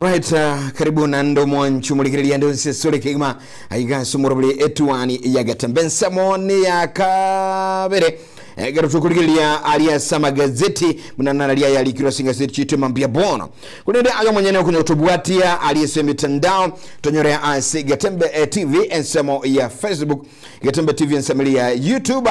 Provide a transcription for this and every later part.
Right, uh, karibu nande omwancho omorigereria ande onse sore kegima aiga ase omorobiri etuani ya gatembe ensemo ni ya kabere egero tokorigereria ari ase amagazeti buna narari aya arikirwe ase engaseti chitu emambia bono korende ayo omonyene okonya otobwatia ari ase emitandao tonyore ase gatembe eh, tv ensemo ya facebook gatembe tv ensemo eri ya youtube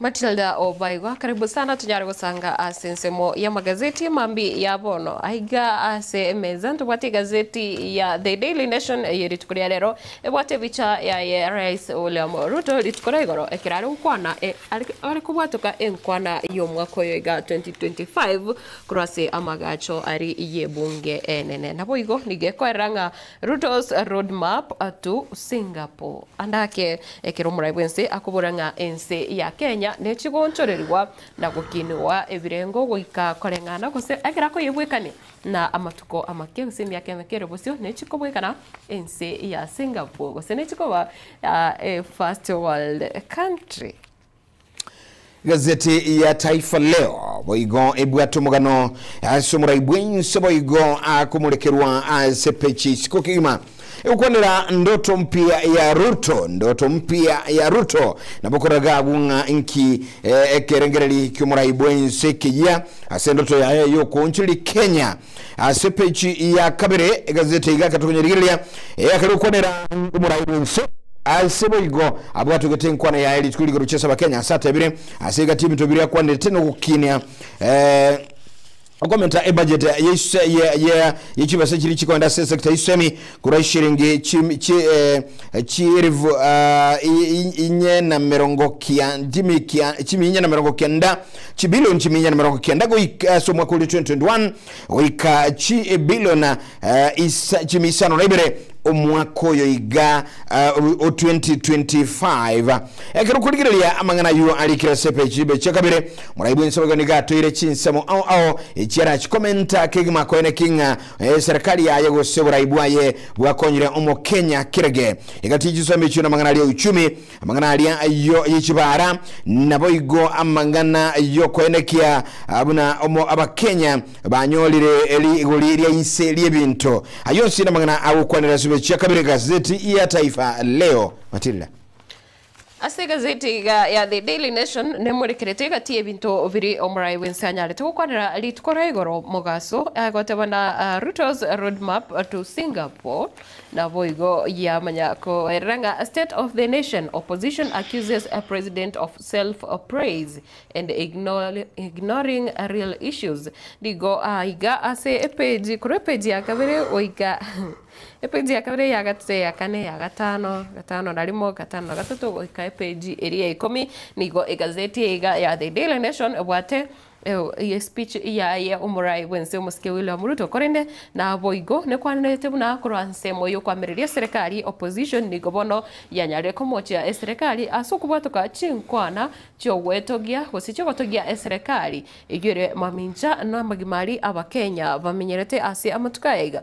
Matilda Obaigwa, Karibu sana tonyare gosanga ase ensemo y'amagazeti amambia ya bono. Aiga ase emeza ntobwate egazeti ya The Daily Nation eye rituko ria rero ebwate ebicha yaye Rais William Ruto rituko ria igoro ekero are gokwana are kobwatoka enkwana y'omwaka oyo iga 2025 korwa ase amagacho aria y'ebunge enene. Naboigo nigo ekoerera ng'a Ruto's Road Map to Singapore. Ande ake, ekero omorai bw'ense akobora ng'a ense ya Kenya nechigoonchorerigwa na gokinigwa ebirengo goika koreng'ana gose ekero akoyebwekania na amatuko amake gose emiaka emeke ere bosio nechikobwekana ense ya Singapore gose nechikoba a first world country. Egazeti ya Taifa Leo boigo ebwate omogano ase omorai bw'ense boigo akomorekerwa ase peji isiko kegima egokwanera ndoto mpya ya Ruto, ndoto mpya ya Ruto nabo koraga agwo ng'a inki eh, ekerengereri ki'omorai bw'ense keyia ase endoto yaye y'okoonchoreria Kenya. Ase epeji ya kabere egazeti egaka tokonye rigereria eyakare okwanera omorai bw'ense. Ase boigo abwatogete enkwana yaye rituko riga roche ase Abakenya ase atebire ase egati ebinto biria akwanete nogokinia eh, okomenta ebudget ye chibesa chiria chikoenda ase esector y'esemi korwa ishiringi chi- chi- eh, chierifu ah, i- i- inye na merongo kia- chimi- kia- chimi inye na merongo kenda chibilioni chimi inye na merongo kenda goika ase omwaka oria 2021 goika chibilioni eh, isa- chimi isano na ibere omwaka oyo iga ah, o 2025 ekero okorigereria amang'ana ayio arikire ase epeji ibe chia kabere morai bw'ensemo iga nigo atoire chinsemo ao ao echiarachikomenta kegima koeneki ng'a Eserikari yaye gose oborai bwaye bwakonyire Omokenya kerge egatinya chisomi echio namang'ana aria euchumi, amang'ana aria ayio yechibaara, naboigo amang'ana yokoenekia buna omo Abakenya banyorire rigori ria inse riebinto. Ayio onsi namang'ana agokwanera Esome Chiakabere Gazeti ya Taifa Leo. Matilda. Ase egazeti iga ya The Daily Nation nemorekerete egati y'ebinto biri omorai bwense anyarete gokwanera rituko ra igoro mogaso, agoteba na Ruto's roadmap to Singapore naboigo yamanya koerera ng'a State of the Nation, Opposition accuses President of self praise and ignoring real issues. Nigo aiga ase page korwa page ya kabere goika. Epeji ya kabere, eya gatato, eya kane, eya gatano, gatano na rimo, gatano na gatato, goika epeji eria ikomi, nigo egazeti eye iga ya The Daily Nation ebwate eh, eye speech yaye omorai bw'ense omosike William Ruto, korende naboigo nekwanerete buna korwa nsemo y'okoamereria eserekari, opposition, nigo bono yanyarire komochia eserekari ase okobwatoka chinkwana chi'ogoetogia gose chi'ogotogia eserekari eyio ere mamincha namagima aria Abakenya bamenyerete ase amatuko aya iga.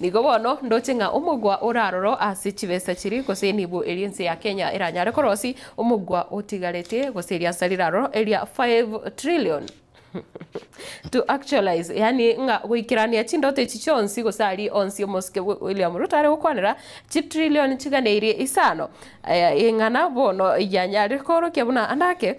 Nigo bono ndoche ng'a omogwa oraroro ase chibesa chiria gose enibo eria ense ya Kenya eranyare korosi omogwa otigarete gose eriansa riraroro eria 5 trillion. To actualize, yaani ng'a goikerania chindoto echi chionsi gose aria onsi omosike bwe William Ruto are gokwanera chitrillion chigana eria isano, eh, eng'ana bono yanyare koorokia buna ande ake,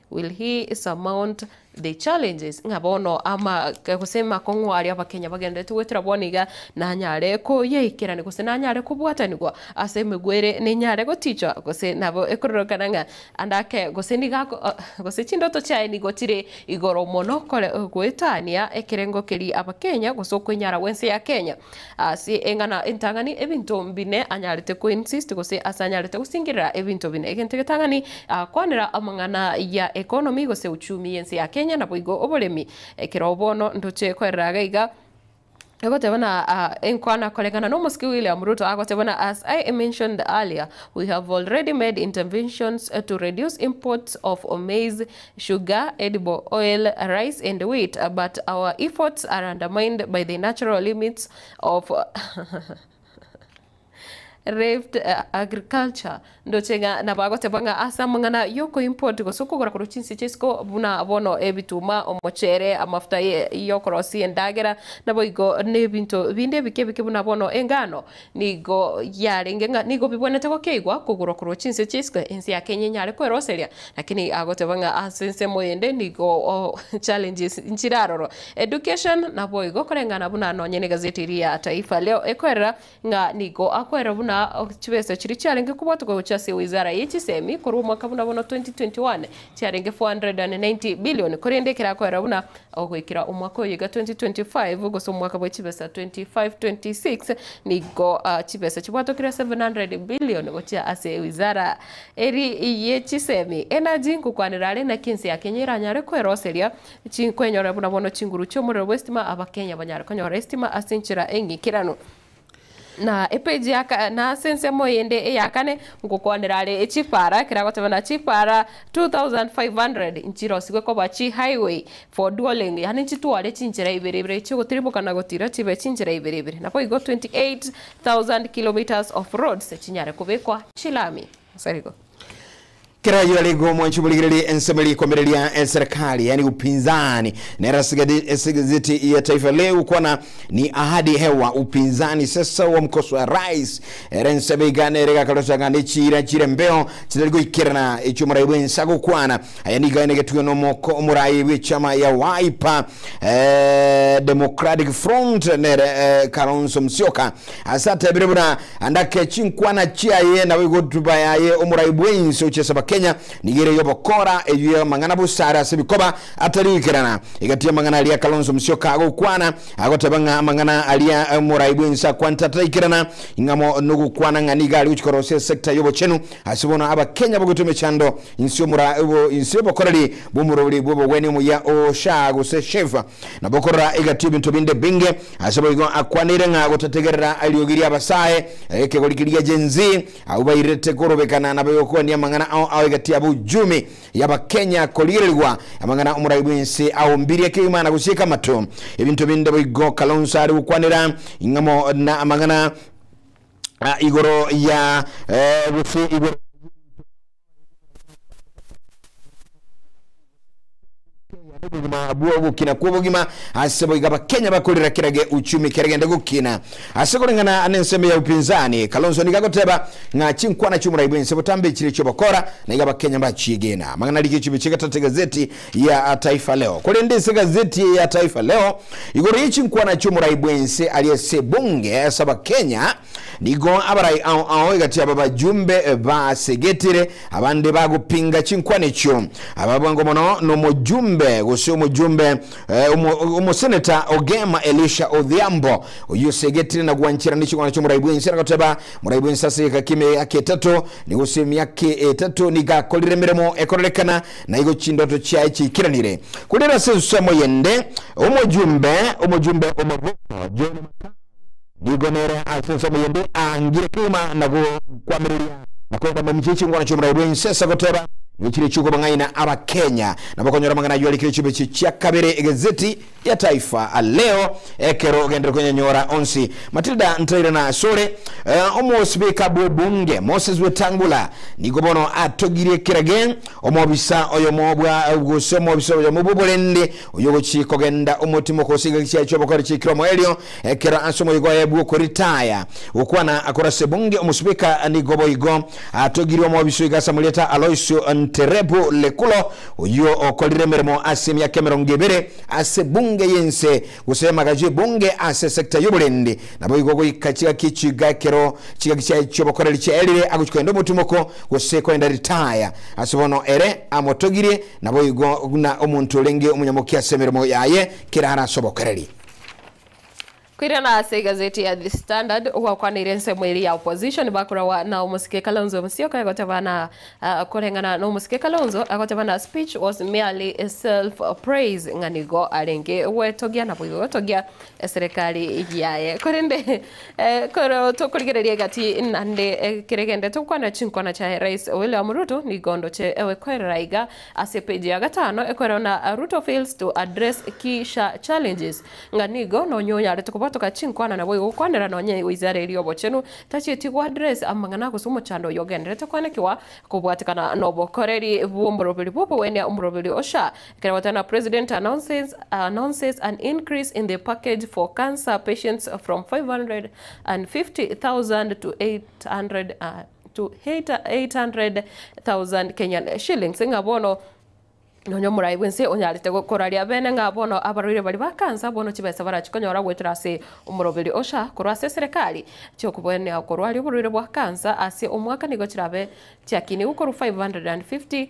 Will he surmount the challenges ng'a bono ama gose makong'u aria Abakenya bagenderete goetera bono iga nanyare koyaikerania gose nanyare kobwatanigwa ase emegwe ere nenyare gotichwa gose nabo ekororokana ng'a ande ake gose niga gose chindoto chiaye nigo chire igoro mono kore goetania ekerengo keria Abakenya gose okwenyara gw'ense ya Kenya. Ase eng'ana entang'ani ebinto mbine anyarete koinsist gose ase anyarete gosingerera ebinto bine. Egento egetang'ani agakwanera amang'ana ya economy gose uchumi y'ense ya Kenya naboigo oboremi. Ekero bono ndoche koerera iga iga, egoteba na enkwana koreng'ana n'omosike William Ruto agoteba buna as I mentioned earlier we have already made interventions to reduce imports of maize Sugar, edible oil, rice and wheat but our efforts are undermined by the natural limits of Rift agriculture. Ndoche ng'a nabagoteba ng'a ase amang'ana y'okoimport gose okogora korwa chinse chi'isiko buna bono ebituma, omochere, amafuta y'okorosia endagera, naboigo nebinto binde ebike ebike buna bono engano, Nigo yarenge ng'a nigo bibwenete gokeigwa kogurwa korwa chinse chia isiko, ense ya Kenya enyare kweroseria, lakini agoteba ng'a ase ensemo eyende nigo challenges nchirarorwa. Education naboigo koreng'ana buna nonye ne gazeti eria ya Taifa Leo ekorera ng'a nigo akoerwa buna chibesa chiria chiarenge kobwatwa gochia ase wizara ye chisemi korwa omwaka buna bono 2021 chiarenge 490 billion korende ekero akoerwa buna Goikera omwaka oyo iga 2025 gose omwaka bwa chibesa 25-26 nigo chibesa chibwatokire 700 billion gochia ase ewizara eri ye chisemi, energy, ngokwanera are naki ense ya Kenya eranyare kweroseria kwenyorera buna bono chinguru chi'omorero bw'estima abakenya banyare konyora estima ase enchera eng'ikiranu. Na epeji ya ka- na ase ensemo eyende eya kane ngokwanera are echipara ekero agotebana chipara 2500 nchirosigwe koba chi highway for dualling yaani nchitware chinchera ibere ibere chiogotirimoka na gotira chibe chinchera ibere ibere naboigo 28000 kilometres of roads chinyare kobekwa chilami. Asarigo. Kera oyio arenge omwanchi borigererie ensemo eri komereria eserekari, yaani upinzani, nere ase gazeti ya Taifa Leo kwana ni ahadi hewa upinzani sasa wamkosoa rais. Ere ensemo iga nere egakarochanga ne chiira chire mbeo chitari goikerana echi'omorai bw'ense agokwana aya nigo aye negetugwe nomoko omorai bw'echama ya Wiper Democratic Front nere Kalonzo Musyoka. Ase atebire buna andake chinkwana chiaye naboigo hotuba yaye omorai bwensi ochesaba Kenya nigo ere yobokora eyio yamang'ana busare ase bikoba atari ikerana egati yamang'ana aria Kalonzo Musyoka agokwana agoteba ng'a amang'ana aria omorai bwensi akwanete ataraikirana ing'amo nogokwana ng'a nigo ari gochikora gose sector yobochenu ase bono abakenya bagoitwa emechando inse omora inse obokoreri bwomorori bwobogwenia omuya osha gose chef Nabo korora egati ebinto binde binge, ase boigo akwanire ng'a gotategerera eriogi ri'abasae, ekegori keria Gen-Z, abwo bairete korobekana na bayokwania amang'ana ao ao egati yabo Uchumi y'abakenya korigererigwa amang'ana omorai bw'ense ao mbirie keima na gosieka amato ebinto binde boigo Kalonzo are gokwanera ing'amo na amang'ana igoro ya gose igoro obogima bwa ogokina kw'obogima ase boiga abakenya bakorera kerage uchumi keregende gokina ase koreng'ana n'ensemo ya upinzani kalonzo niga agoteba ng'a chinkwana chi'omorai bwense botambe echire chi'obokora na iga abakenya bachiegena amang'ana rigichi biche getate egazeti ya taifa leo korende ase egazeti eye ya taifa leo igoro ye chinkwana chi'omorai bwense ari ase ebunge ase abakenya Nigo abarai ao ao egatiaba abajumbe basegetire, abande bagopinga chinkwana echio. Aba bwango mono nomojumbe gose omojumbe eh, omo- omoseneta Ogema Elisha Odhiambo, oyio osegetire na gwanchera neching'wana chi'omorai bwense, nagoteba morai bwense ase egeka ki'eme emiaka etato nigo gose emiaka etato nigo akorire emeremo ekorerekana, na igo chindoto chiaye chiaikiranire. Korende ase ensemo yende omojumbe omojumbe omogoko John Makau Nigo nere ase ensemo eyende aangire kegima na gokwamireria na korenda momuche chingwana chi'oborai bw'ense ase goteba, Nichirie chi'okobong'aina Abakenya nabo okonyora amang'ana ayio arikire chimbeche chia kabere egezeti ya Taifa Leo ekero ogendire konyanyora onsi. Matilda Ntairana asore Omosipika bw'obunge Moses Wetangula nigo bono atogirie kerage omobisa oyomo bwa gose omobisa oyomo bw'oborende Oyogochia kogenda omotimo okosiga egechiaye chi'obokori chi'ekiro omoerio, ekero ase omoigo oye bw'okoritaya gokwana akorase bunge omosibeka, nigo boigo atogirwe omobiso iga ase amarieta Aloisio Nterebu Lekulo, oyio okorire emeremo ase emiaka emerongo ebere ase bunge y'ense gose emagacho y'ebunge ase sector y'oborendi. Naboigo goika chigaki echio iga ekero chigaki chiaye chi'obokoreri chiaerire agochia kogenda omotimoko gose kogenda ritaya, ase bono ere amotogirie Naboigo buna omonto orenge omonyamokia ase emeremo yaye, kera are ase obokereri. Koirana ase egazeti ya The Standard, ogwakwaneire ensemo eria ya opposition bakoragwa na omosike Kalonzo Musyoka egoteba na koreng'ana nomosike Kalonzo agoteba na speech was merely self praise ng'a nigo arenge gwetogia naboigo gotogia eserekari yaye korende Ekero tokorigereria egati naende ekere gende togokwana chinkwana chiaye Rais William Ruto nigo ndoche gokoerera iga ase page ya gatano ekorwa na Ruto fails to address key sha challenges ng'a nigo nonye onyarete kobotoka chinkwana naboigo gokwanera nonye wizara eria obochenu tachieti go address amang'ana gose omochando oyo ogenderete koanekiwa kobwatekana nobokoreri bwomoroberi bwobogoenia omoroberi osha Kerewatana President announces announces an increase in the package for cancer patients from 550,000 to 800 uh, to 800,000 Kenyan shillings ng'a bono nonya omorai bw'ense onyarete go- koraria bene ng'a bono abarwaire bari ba kansa bono chibesa barachikonyora goetera ase omoroberi ocha korwa ase eserekari chi'okoboenia okorwaria oborwaire bwa kansa ase omwaka nigo chirabe chiakinigwe korwa 550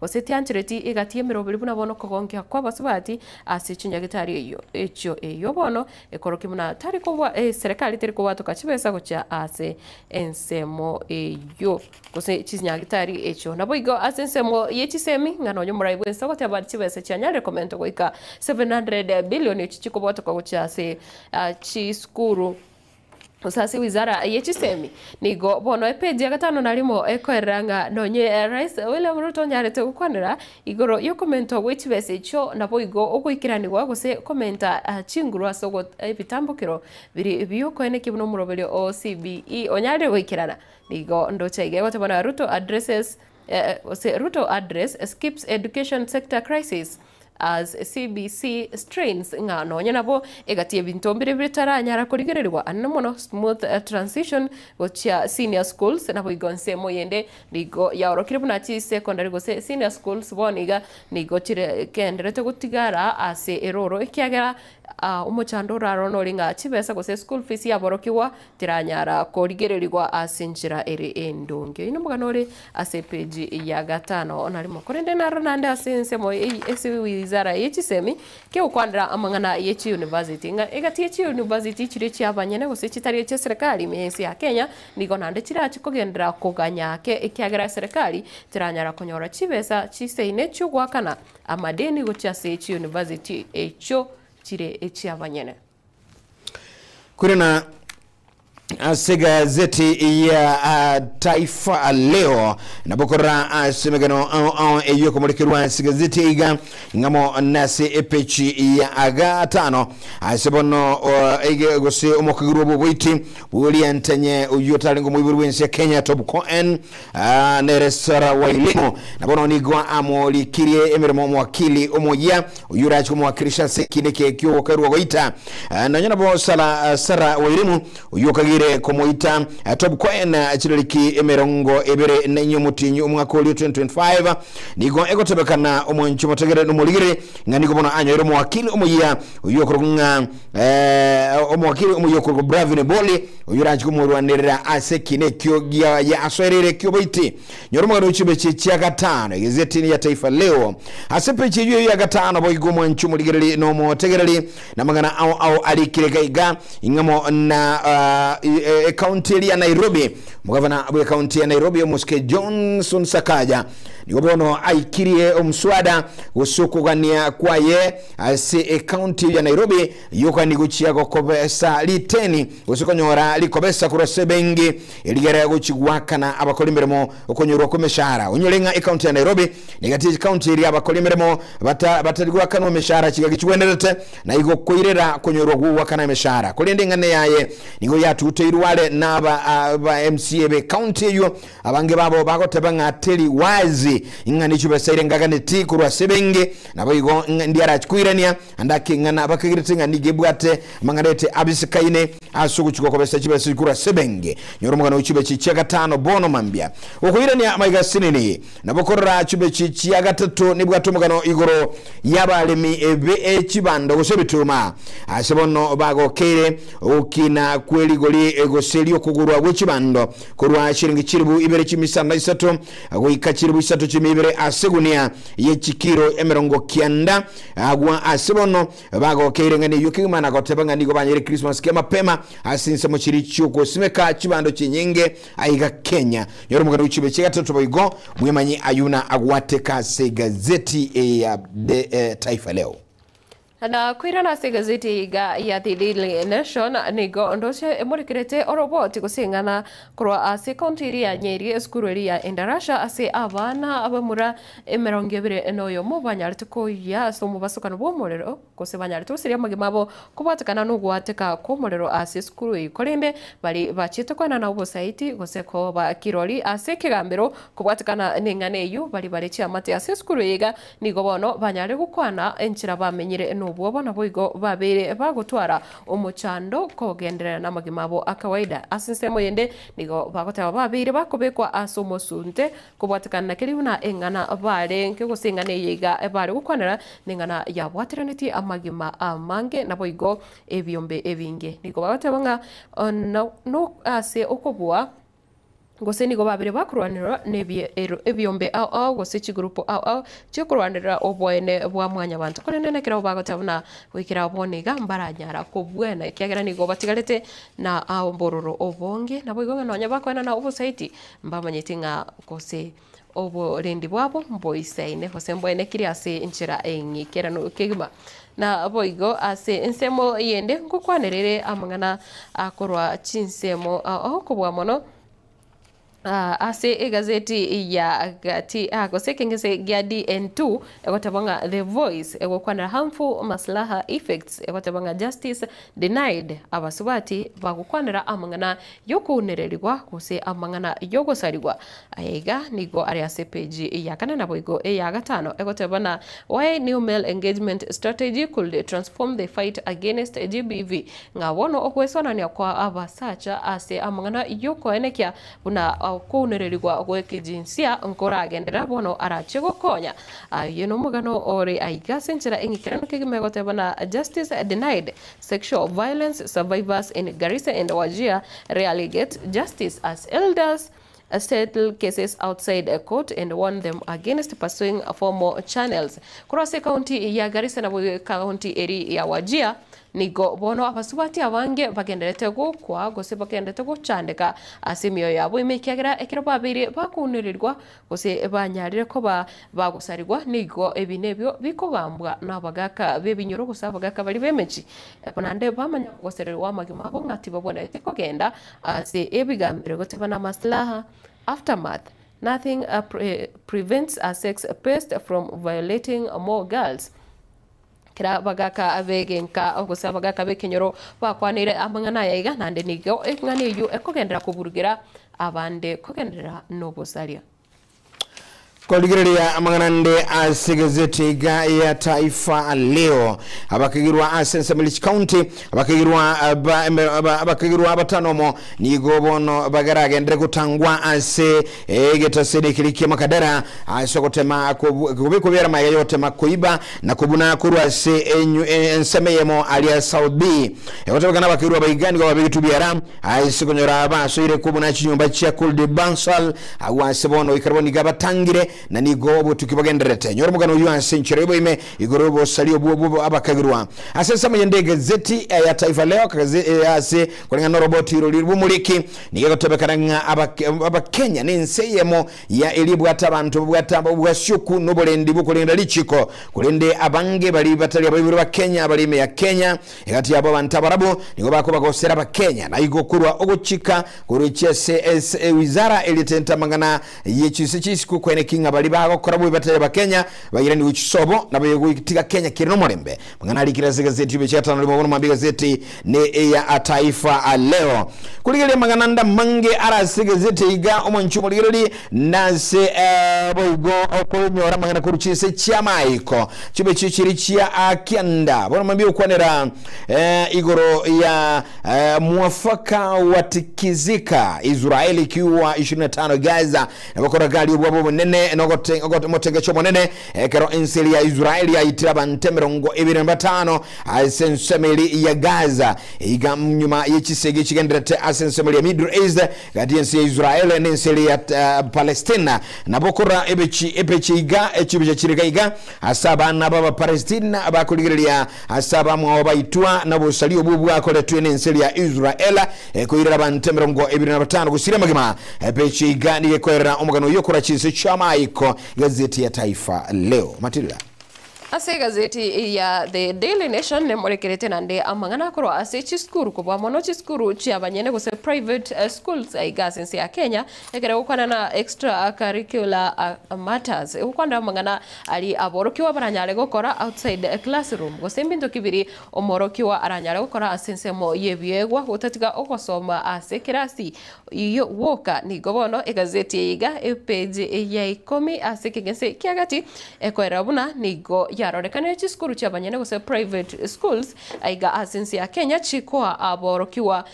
Gose tianchereti egati emeroberi buna bono okogonkia kw'abasubati ase chinyagetari eyio, echio eyio bono ekorokia buna tari kobwa eserekari teri kobwatoka chibesa gochia ase ensemo eyio, gose chinyagetari echio. Naboigo ase ensemo ye chisemi, ng'a nonya omorai bw'ense ogoteba ati chibesa chianyarire komenta goika 700 billion echi chikobwatoka gochia ase chisukuru, Gose ase wizara ye chisemi, nigo bono epeji ya gatano na rimo ekorera ng'a nonye Rais William Ruto onyarete gokwanera igoro y'okomentwa gwe chibesa echio naboigo ogoikeranigwa gose komenta chinguru ase ogo ebitambokero biri biokoenekia buna omoroberio oo CBE onyarire goikerana. Nigo ndoche iga egoteba na Ruto addresses gose Ruto address skips education sector crisis as CBC strains ng'a nonya nabo egati ebinto mbire bitaranyara korigererigwa ande mono smooth transition gochia senior schools naboigo ensemo yende nigo yaorokire buna chisecondary gose senior schools bono iga nigo chire genderete gotigara ase eroro ekiagera Omochando orarora nori ng'a chibesa gose eschool fees yaborokigwa teranyara korigererigwa ase enchera ere endonge. Oyio nomogano ore ase epeji ya gatano na rimo. Korende naro naende ase ensemo eye ase wizara ye chisemi kegokwanera amang'ana ye chiuniversity ng'a egati ye chiuniversity chiria chiabanyene gose chitari echia serikali me ense ya Kenya nigo naende chirachi kogenderera koganya ake ekiagera serikali teranyara konyora chibesa chiseine chiogoakana amadini gochia ase chiuniversity echio chire echiabanyene. Korana ase egazeti ya Taifa Leo, nabo korora ase emegeno ao ao eyio ekomorekerwa ase egazeti iga ing'amo na ase epechi ya gatano ase bono ige gose omokaguru bw'oboiti bw'Oriantenye oyio otarenge omoibori bw'ense ya Kenya Top Coen Aa nere Sara Wairimu, na bono nigo amorikirie emeremo omwakili omoyia, oyio orache komwakirisha ase ekiina eke ki'ogokerwa goita. Aa nonya nabo Sara Sara Wairimu, oyio okagire komoita Top Coin chidariki emerongo ebere na inya omotienyi omwaka oria 2025, nigo egotebekana omonche omotegereri na omorigiri ng'a nigo bono anyoire omwakili omoyia oyio okorokwa ng'a Eh, omwakiri omoyio okorwa Bravin Boli, oyio oranche komorwanerera ase ekina ekio giaye asoereire eki'oboiti. Nyora omogano o chimbeche echia gatano, egezetini ya Taifa Leo. Ase embeche eyio ya gatano boigo omwanchi omorigereri na omotegereri, na amang'ana ao ao arikire iga iga, ing'amo na ah, i- e- ekaunti eria ya Nairobi. Omogavana bw'ekaunti ya Nairobi, omosike Johnson Sakaja, nigo bono aikirie omoswada gose okogania kwaye ase ekaunti eyio ya Nairobi yoka nigochia gokobesa riteni gose konyora rikobesa korwa ase ebenki erigere gochigoakana abakora emeremo okonyorwa kw'emeshahara. Onyore ng'a ekaunti ya Nairobi negati y'echikaunti eria abakora emeremo bata batari goakanwa emeshahara chingaki chigwenerete na igo koirera konyorwa gw'ogoakana emeshahara. Korende eng'ana yaye nigo yatuteirwe are naba aba mca b'ekaunti eyio Abange babo bagoteba ng'a teri wazi ng'a nichio besaire ngaganeti korwa ase ebenge, naboigo ng'a ndiarakoirania ande akeng'ana bakagirete ng'a nigo ebwate amang'ana ete abisikaine ase ogochikwa kobesa chibesa echi korwa ase ebenge. Nyora omogano o chibeche chia gatano bono mambia. Okoirania amaiga asenene nabo korora chibeche chia gatato nebwate omogano igoro y'abaremi be chibando gose ebituma. Ase bono bagokeire ogokina kwe rigori gose ri'okogurwa gwe chibando korwa chiringi chilifu ibere chimisanda isato goika chilifu isato chimia ibere ase egunia ye chikiro emerongo kianda. Agwo ase bono bagokeire ng'ani eyio kegima na goteba ng'a nigo banyire Christmas kia mapema ase ensemo chiria chiogosimeka chibando chinyinge aiga Kenya. Nyora omogani o chibe chia gatato boigo, Mwemanyi Ayuna agwateka ase egazeti ya The Taifa Leo. Na koirana ase egazeti iga ya The Daily Nation, nigo ndoche emorekerete oroboti gose eng'ana korwa ase county eria ya Nyeri, esukuru eria ya Endarasha ase abana abamura emerongo ebere na oyomo banyarete koyia ase omobasokano bw'omorero gose banyarete goseria amagima abo kobwatekana n'ogoateka kw'omorero ase esukuru eyio korende baria bachete koenana obosaiti gose koba kirori ase ekegambero kobwatekana neng'ana eyio baria bare chiamate ase esukuru eye iga Nigo bono banyare gokwana enchera bamenyire nobwoba, naboigo babeire bagotwara omochando kogenderera namagima abo akawaida. Ase ensemo eyende nigo bagoteba babeire bakobekwa ase omosunte kobwatekana nakeria buna eng'ana barenge, gose eng'ana eye iga bare gokwanera neng'ana yabwateranetie amagima amange, naboigo ebiombe ebinge. Nigo bagoteba ng'a ase okobua Gose nigo babere bakorwanerwa nebiero ebiombe ao ao, gose chigurupu ao ao chi'okorwanerera oboene bwa mwanyabanto, korende na kerabo bagoteba buna goikera bono iga, mbaranyara kobuena, ekiagera nigo batigarete na obororo obonge. Naboigo ng'a nonya bakoenana obosaiti, mbamanyeti ng'a gose. oborendi bwabo mboisaine, gose mboenekirie ase enchera y'ekeirano kegima. Naboigo ase ensemo eyende ngokwanereire amang'ana a korwa chinsemo okobua mono ase egazeti ya gati gose ekengese gia DN2 egoteeba ng'a The Voice egokwanera Harmful Maslaha Effects egoteba ng'a Justice Denied, Abasubati bagokwanera amang'ana y'okounererigwa gose amang'ana y'ogosarigwa. Aya iga nigo are ase epeji eya kane naboigo eya gatano, egotebana Why New Male Engagement Strategy Could Transform the Fight Against GBV, ng'a bono ogwesorania kwa abasacha ase amang'ana y'okoenekia buna okounererigwa gw'ekejinsia nkoragendera bono arache gokonya. Oye nomogano ore aiga ase enchera eng'ikeranu kegima egotebana Justice Denied, Sexual Violence Survivors in Garissa and Wajir Rarely Get Justice as Elders Settle Cases Outside Court and Warn Them Against Pursuing Formal Channels Korwa ase ekaunti ya Garissa na ekaunti eri ya Wajir nigo bono abasubati abange bagendererete gokwa gose bagendererete gochandeka ase emioyo yabo ime ekiagera ekero babeire bakounererigwa Gose banyarire koba bagosarigwa, nigo ebi nebio bikogambwa nabagaaka b'ebinyoro gose abagaaka baria b'emechie, oko naende bamanye ogosererigwa amagima abo ng'a tibabwenereti kogenda ase ebigambire goteba namasilaha, Aftermath, Nothing prevents a sex priest from violating more girls. Ekero abagaaka b'egenka gose abagaaka b'ekenyoro bakwanire amang'ana aya iga, naende nigo eng'ana eyio ekogenderera koburugera abande kogenderera nobosaria. Korigereria amang'ana ande ase egazeti iga ya Taifa Leo, abakegirwa ase ensemo Lich County Abakeirwa ba embero aba- abakeirwa batano omo nigo bono bageragendere gotangwa ase egetaseri ekeria kia Makadara, ase ogotema kobu- kobe kobiera amaya y'ogotema koiba na kobuna korwa ase enyu- e- ensemo eyemo aria South B. Egotebeka nabakeirwa aba iga nigo babegetwe biara ase konyora basoire kobuna chinyomba chia Kuldi Bansal, agwo ase bono goika rabo nigo abatangire na nigo obotuki bogendererete. Nyora omogano oyio ase enchera y'oboime, Igoro y'obosaria obwo bwo abakagirwa ase ensemo y'ende egazeti ya Taifa Leo, akagazeti ee ase koreng'ana noroboti oro riria ribomoriki, nigo egotebekana ng'a Abakenya nense eyemo ya eria ebwate abanto babwate obwasioku noborendi bw'okorenda richiko, korende abange baria batari abaiborwe Bakenya abare ime ya Kenya egati yabo abanto abarabwo nigo bakoba gosera Abakenya naigo korwa ogochika korwa chiase ase ewizara erietete amang'ana Eyio chinse chia isiko kwene ki ng'a baria bagokora bobe batari Abakenya bairanigwe chisobo nabo egotiga Kenya kere nomorembe. Mang'ana arikire ase egazeti Obiachi gatano rimo bono mambia egazeti ne eya Taifa Leo. Korigereria amang'ana ande amange are ase egazeti iga omonche omorigereri nase boigo okonyora amang'ana korwa chinse chiamaiko chiobiachi chiria chia kianda bono mambia gokwanera igoro ya Eh, mwafaka watikizika Israeli kiwa ishirini na tano Gaza nabokoragaria obwabo obonene nogote- ogote- omotengecho omonene ekero ense eria ya Israeli yaitire abanto emerongo ebere na batano ase ensemo eria ya Gaza iga nyuma ye chisegi echigenderete ase ensemo eria ya Middle East gati ense ya Israeli na ense eria ya eh, Palestina nabokora ebechi ebeche iga echibeche chire iga iga Ase abana b'Abapalestina abakorigereria ase abamwao baitwa nobosaria obwo bwakoretwe nense eria Israel, ekoirera abanto emerongo ebere na batano gosiria amagima. Epeche iga nigo ekoerera omogano oyio korwa chinse chi'amaiko. Egazeti ya Taifa Leo. Matilda. Ase egazeti eye ya The Daily Nation nemorekerete naende amang'ana akorwa ase chisukuru, kobua mono chisukuru chi'abanyene gose private schools aiga ase ense ya Kenya, Ekero egokwana na extracurricular matters, egokwana na amang'ana aria aborokigwa baranyare gokora outside the classroom, gose ebinto ki biria omorokigwa aranyare gokora ase ensemo y'ebiegwa gotatiga ogosoma ase ekerasi. Iyo gwoka nigo bono egazeti eye iga, epeji ya ikomi ase ekegese kia gati, ekoerera buna nigo yarorekanire chisukuru chi'abanyene gose private schools aiga ase ense ya Kenya chikoa aborokigwa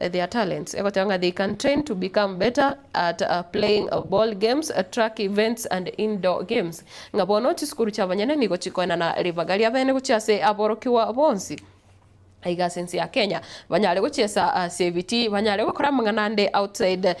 their talents, egoteba ng'a they can train to become better at playing ball games, track events and indoor games. Ng'a bono chisukuru chi'abanyene nigo chikoenana ribaga ri'abene gochia ase aborokigwa bonsi aiga ase ense ya Kenya, banyare gochiesa ase ebitii, banyare gokora amang'ana ande outside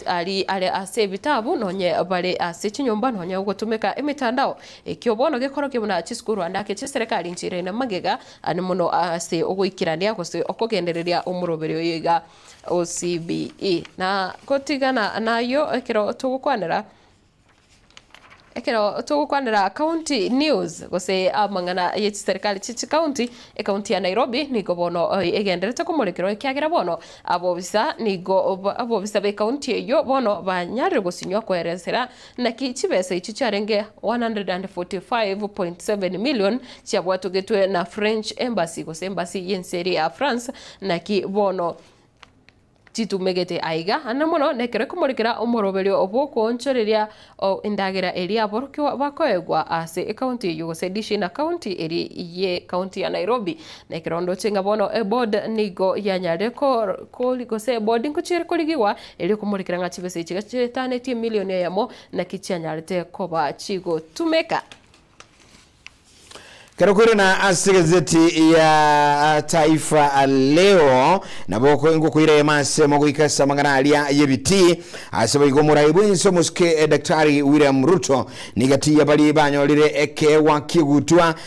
ari are ase ebitabu nonye bare ase chinyomba nonye gotumeka emetandao. Ekio bono gekorokia buna chisukuru ande ake chi'eserekari nchirende magega Aane mono ase ogoikerania gose okogendereria omoroberi oyo iga o CBE. Na gotigana nayio ekero togokwanera ekero togokwanera county news gose amang'ana ye chiserikali chie chikaunti, ekaunti ya Nairobi nigo bono egenderete komorekerwa ekiagera bono abobisa nigo abobisa b'ekaunti eyio bono banyarire gosinywa koeresera Naki chibesa echi chiarenge 145.7 million chiabwatogetwe na French Embassy gose Embassy y'ense eria ya France, naki bono titumegete aiga, na mono nekero ekomorekera omoroberio bw'okoonchoreria endagera eria aborokigwa bakoegwa ase ecounty eyio gose edishi ina county eri ye county ya Nairobi. Nekero ndoche ng'a bono eboard nigo yanyarire gose eboard nko chiare korigigwa erio ekomorekera ng'a chibesa echi iga chitanetie emilion eyemo naki chianyarete koba chigotumeka. Kero koire na ase egazeti ya Taifa Leo nabo oko ngokoira eyemo asemo goika ase amang'ana aria y'ebitii. Ase boigo omorai bw'ense omosuke Daktari William Ruto niga tiyabarie banyorire ekeegwa ki'ogutwa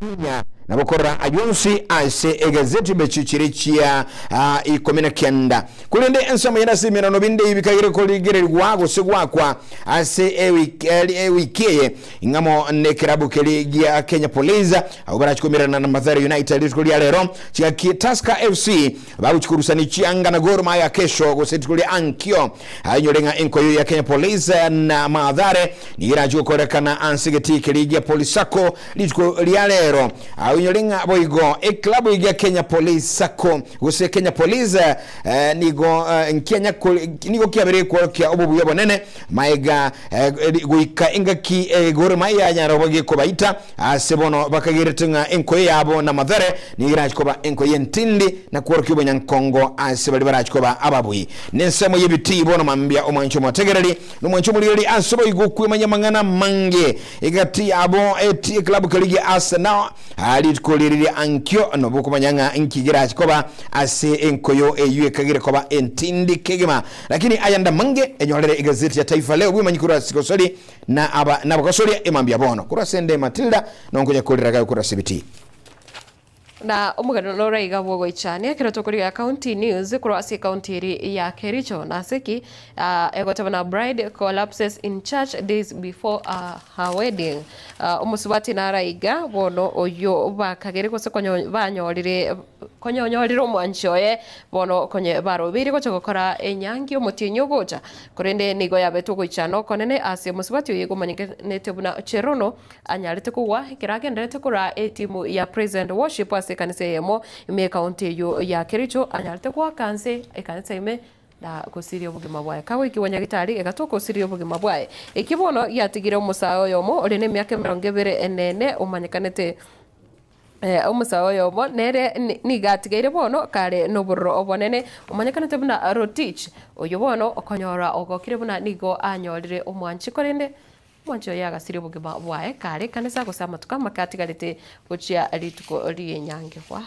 Konya na gokorora ayio onsi ase egazeti bechio chire chia ah, ikomi na kenda. Korende ensemo yende ase emerano binde bikagera korigererigwa gose gwakwa ase ewiki eri- ewiki eye ing'amo nekerabu keri gia Kenya Police abwo barachi komererana na Mathare United rituko ria rero chigaki Tusker FC Bagochia korusania chianga na Gor Mahia kesho gose rituko ria ankio. Ainyore ng'a enkoyo ya Kenya Police na Mathare nigo erachie gokorekana ase egetii keria gia Police Sacco rituko ria rero. Ainyore ng'a boigo eklabu eye gia Kenya Police Sacco gose Kenya Police nigo nigo kiabeire ekworokia obobuya obonene Maega goika engaki egore yanyara bobe kobaita ase bono bakagerete ng'a enkoyo yabo namathere nigo erachi koba enkoyo entindi na kworokia obonyankongo ase baria barachi koba ababui. Nensemo y'ebitii bono mambia omwanche omotegereri na omwanche omorigereria ase boigo okwemanya amang'ana amange egati yabo eti ekilabu keria gia Arsenal rituko riria riri ankio nobokomanya ng'a nki gerachi koba ase enkoyo eyio ekagere koba entindi kegima Lakini aya ndamange, enyorere egazeti ya Taifa Leo bw'emanyi korwa ase Kosori na aba nabagosoria e mambia bono, korwa ase nde Matilda, na onkonya korera gae korwa ase ebitii. Na omogano nore iga bw'ogoichania ekero tokorigia ya County News korwa ase County eri ya Kericho. Nase ki? Ah, egoteba na Bride collapses in church days before ah, her wedding. Ah, omosubati nara iga bono oyio bakagere gose konyo banyorire Konya onyorire omwanchi oye, bono konya barobeirie gocha gokora enyangi omotienyi ogocha, korende nigo yabetwe ogoichana okonene ase omosubati oye omanyekanete buna Cherono, anyarete kogwa ekero agendererete koraa etimu ya Praise and Worship ase ekanisa eyemo ime ekaunti eyio ya Kericho, anyarete goaka nse ekanisa ime na gosiria obogima bwaye. Kagoikigwa nyagitari, egatoka gosiria obogima bwaye. Eki bono giatigire omosae oyomo ore nemiaka emerongo ebere enene omanyekanete. Omosae oyomo nere nigo atigeire bono kare nobororo obonene, omanyekanete buna Rotich, oyio bono okonyora ogokire buna nigo anyorire omwanchi, korende omwanchi oye agasiria obogima bwaye kare ekanisa gose amatuko amake atigarete gochia rituko ri'enyangigwa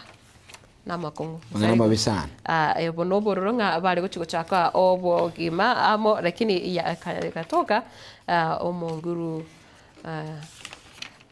namakong'u. Ong'ana omobe sana. Ah, obo nobororo ng'a bare gochia gochaka obogima amo, lakini ya- eka- egatoka ah, omonguru ah,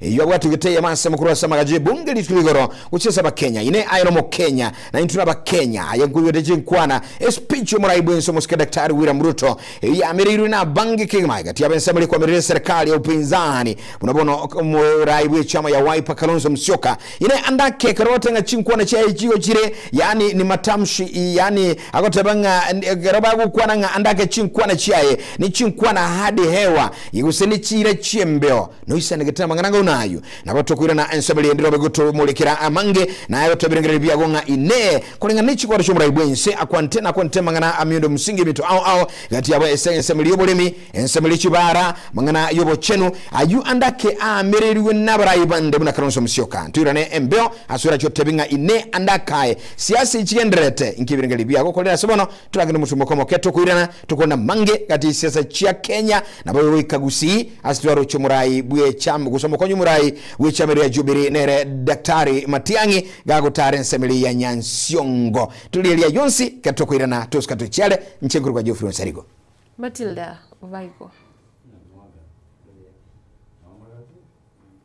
Eyio abwate egeteyemo ase mokoro ase amagacho y'ebunge ri'Ituko igoro gochia ase Abakenya. Inee aye n'Omokenya? Naintwe turi Abakenya. Aye nkoigwete chinkwana. E speech y'omorai bw'ense omosike Daktari William Ruto eyio yamereirwe n'abange kegima egati y'abensabaria kwamerire eserikali ya upinzani buna bono omorai bw'echama ya Wiper Kalonzo Musyoka. Inee ande ake ekero ogote ng'a chinkwana chiaye chigo chire yaani ni matamshi yaani agoteba ng'a ekero bagokwana ng'a ande ake chinkwana chiaye ni chinkwana hadi hewa gose ni chiira chi'embeo Noisanegete amang'ana ang'u nayio, nabo tokoirana ense bali endi robe gotomorekera amange, na aya gotobirengereria biago ng'a Inee! Koreng'ana ne chikoro chi'oborai bw'ense akwa nte nakwa nte amang'ana ameondo omosinge eminto ao ao, egati yabo ase ensemo eria y'oboremi, ensemo eria chibaara, amang'ana y'obochenu, ayio ande ake aamererigwe nabarai bande buna Kalonzo Musyoka. Toirane embeo, asore ache otebi ng'a Inee! ande ake aye, siasa echigendererete, inki ebirengererio biago okorire ase bono? Torage nomosungo okomoke, tokoirana, tokorenda mange gati yesiasa chia Kenya, nabo oyo goika Gusii ase twaroche omorai bwecham gose omokonyi omorai bwechama eria Jubilee nere Daktari Matiang'i gagotara ensemo eria ya Nyansiongo. Tore eria yonsi kera tokoirana tosika tochiare nche nkorwa kwa Geoffrey Onsarigo. Matilda Obaigo.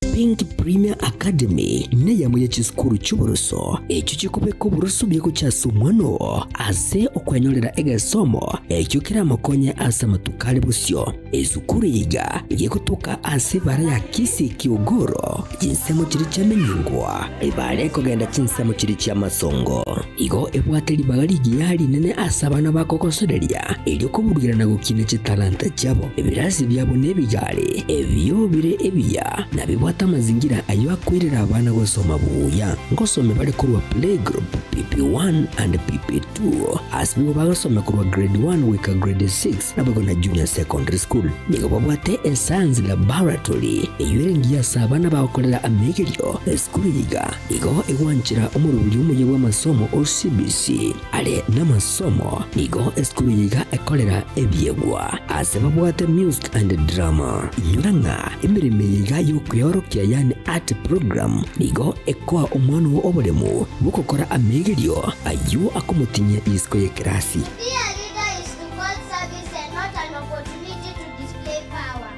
Think Premier Academy neyemo ye chisukuru chi'oboroso echio chikobeka oboroso bia gocha ase omwana oo ase okwenyorera egesomo ekio keramokonye ase amatuko are bosio. Esukuru eye iga gegotoka ase ebara ya Kisii Kiogoro chinsemo chiria chiamenyingwa ebara ekogenda chinsemo chiria chi'amasongo. Igo ebwate ribaga rigiya rinene ase abana bakogosoreria, erio koburugira na gokiina chitalanta chiabo. Ebirasi biabo nebigare, ebio bire ebiya, na bibwate amazingira ayio akoirera abana gosoma buya. Ngosome bare korwa playgroup, PP1, and PP2. Ase nigo bagosomia korwa Grade 1 goika Grade 6, naboigo na Junior Secondary School. Nigo babwate eScience Laboratory, eyio ere engiya ase abana bagokorera amegerio esukuru iga. Igo egwanchera omoruria omuya bw'amasomo o CBC are namasomo nigo esukuru eye iga ekorera ebiegwa ase babwate Music and Drama. Inyora ng'a emeremo eye iga y'okweorokia yani art program nigo ekoa omwana oo oboremu bw'okokora amegerio ayio akomotinyia isiko y'ekerasi. Be a leader is to call service and not an opportunity to display power.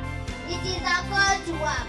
It is a call to work.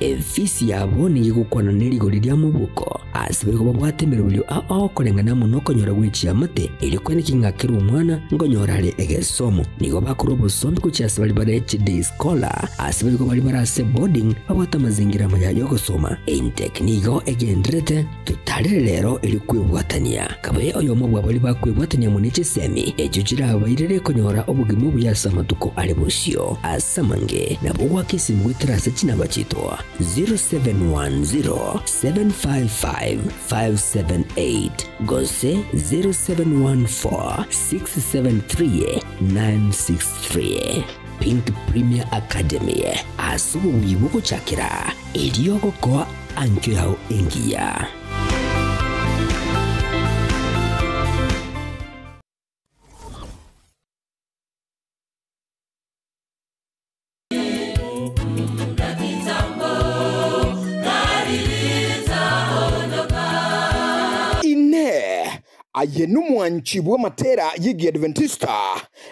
Efisi yabo nigo egokwana ne rigori ria moboko, aase baigo babwate emeroberio ao koreng'ana amo nokonyora gwe chiamate, erio kwene king'akere omwana nkonyora are egesomo. Nigo bakora obosombi gochia ase baria bare chi day scholar, aase baigo baria bare ase boarding babwate amazingira amaya y'ogosoma. Intake nigo egenderete Totarire rero erio kwebwatania, kabaye oyomo bwa baria bakwebwatania muna chisemi echio chirabairere konyora obogima obuya ase amatuko are bosio. Ase amange, nabo ogwake esimi goetera ase chinaba chiaitwa 0710755578 gose 0714673963. Pink Premier Academy, ase obobuya bogochakera. Erio gokoa anchwe yao engiya. Inee! Aye nomwanchibwa matera y'Egiadventista?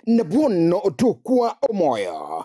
Na bono tokwa omoyo.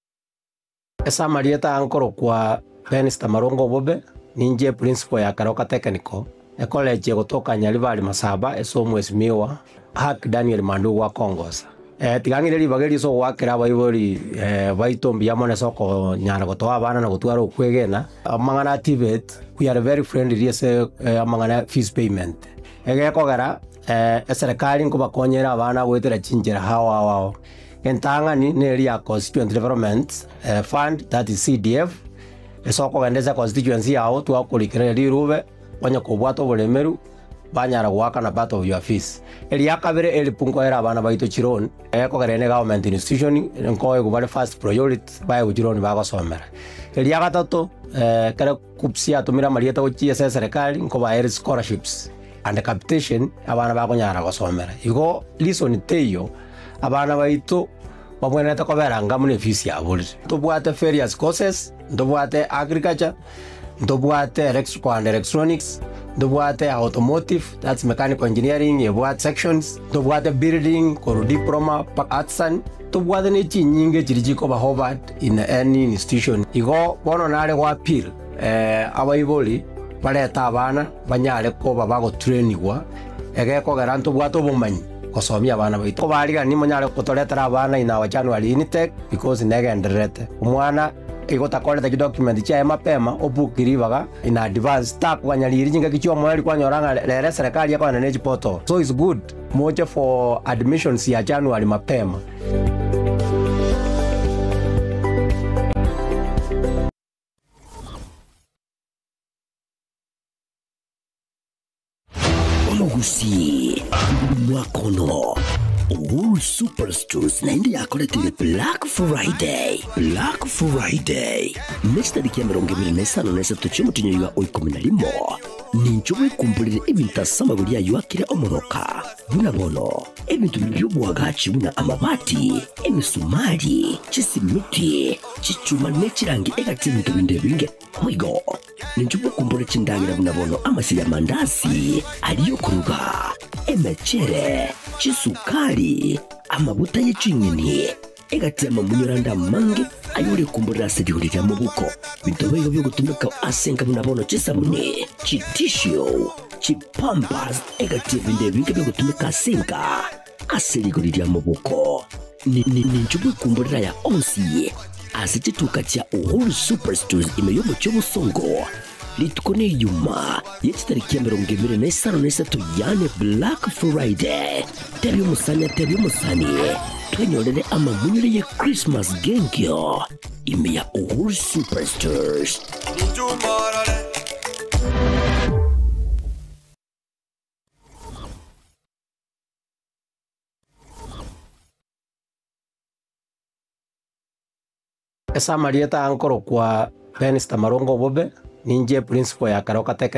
Ase amarieta aa nkorokwa Dennis Tamarongo Obobe, ninche eprinsipal ya kare o katekeniko, ekolechi egotoka Nyaribari Masaba ase omwesimigwa Ark Daniel Mandugu akongosa. Tiga ng'ire ribaga erio ase ogoakera abaibori baito mbuya mono ase okonyara gotoa abana na gotwara okwegena. Amang'ana a TVET, we are very friendly ase amang'ana ya fees payment. Egekogera. Ee, eserekari nkobakonyere abana goetera chinchera ao ao ao. Entang'ani neri ya Constituent Development eh, Fund, that is CDF, ase okogenda ase constituency yao twakorikera rirube onye kobwate oboremeru banyara goakana part of your fees. Eria kabere elfu nkoere abana baito chiloan eh, kogerera ne government institution nkoegwe bare first priority baegwe chiloan bagosomera. Eria gatato eh, ekero KUCCPS yatomire amarieta gochia ase eserekari nkobaere scholarships. and capitation abana bakonyara gosomera. Igo reason teiyo abana baito babwenerete kobera anga buna efisi yabo rire. Ntobwate various courses, ntobwate agriculture, ntobwate electrical and electronics, ntobwate automotive that's mechanical engineering ebwate sections, ntobwate building korwa diploma mpaka artisan, ntobwate ne chinyinga echiria chikoba offered in any institution. Igo bono nare goappeal abaibori barete abana. banyare koba bagoturenigwa, egekogera ntobwate obomanyi gosomia abana baito. Kobarigani monyare gotoretera abana in our January intake because negendererete. Omwana igo otakorete chidocument chiaye mapema obook ribaga in advance takoganyariiri chingaki chiomoreri kwanyora ng'a rero eserekari ekogenda ne chiportal so it's good moche for admissions ya January mapema. Omogusii, omwaka ono Wool Super Stores naende yakoretire Black Friday. Black Friday ne chitariki ya emerongo ebere na esano na esato chi'omotinyo oiga o ikomi na rimo nincho bwekumborire ebinto ase amagori ayio akire omoroka. Buna bono, ebinto bire bi'oboagachi buna amabati, emesumari, chisimiti, chichuma ne chirangi egati y'ebinto binde binge Boigo, ninche bokombora chindagera buna bono amasegi amandasi, aria okoruga, emechere, chisukari, amaguta ye ching'eni, egati y'amamunyore ande amange aye ore komborera ase rigori ria mobuko. Binto baigo biogotumeka ase enka buna bono chisabuni, chitissue, chipampers, egati y'ebinto ebinge biogotumeka ase enka. Ase rigori ria moboko ninchwe bw'ekumborera ya onsi ase chituka chia Uhuru Super Stores ime y'omochie obosongo rituko ne iyuma ye chitariki emerongo ebere na isano na isato yaani Black Friday. Tebia omosani atebie omosani twenyorere amamunyore ye Christmas g'enkio ime ya Uhuru Super Stores. Ase amarieta ankorokwa Benz Tamarunga Obobe, ninche eprinsipal ya kare ogatekeneria.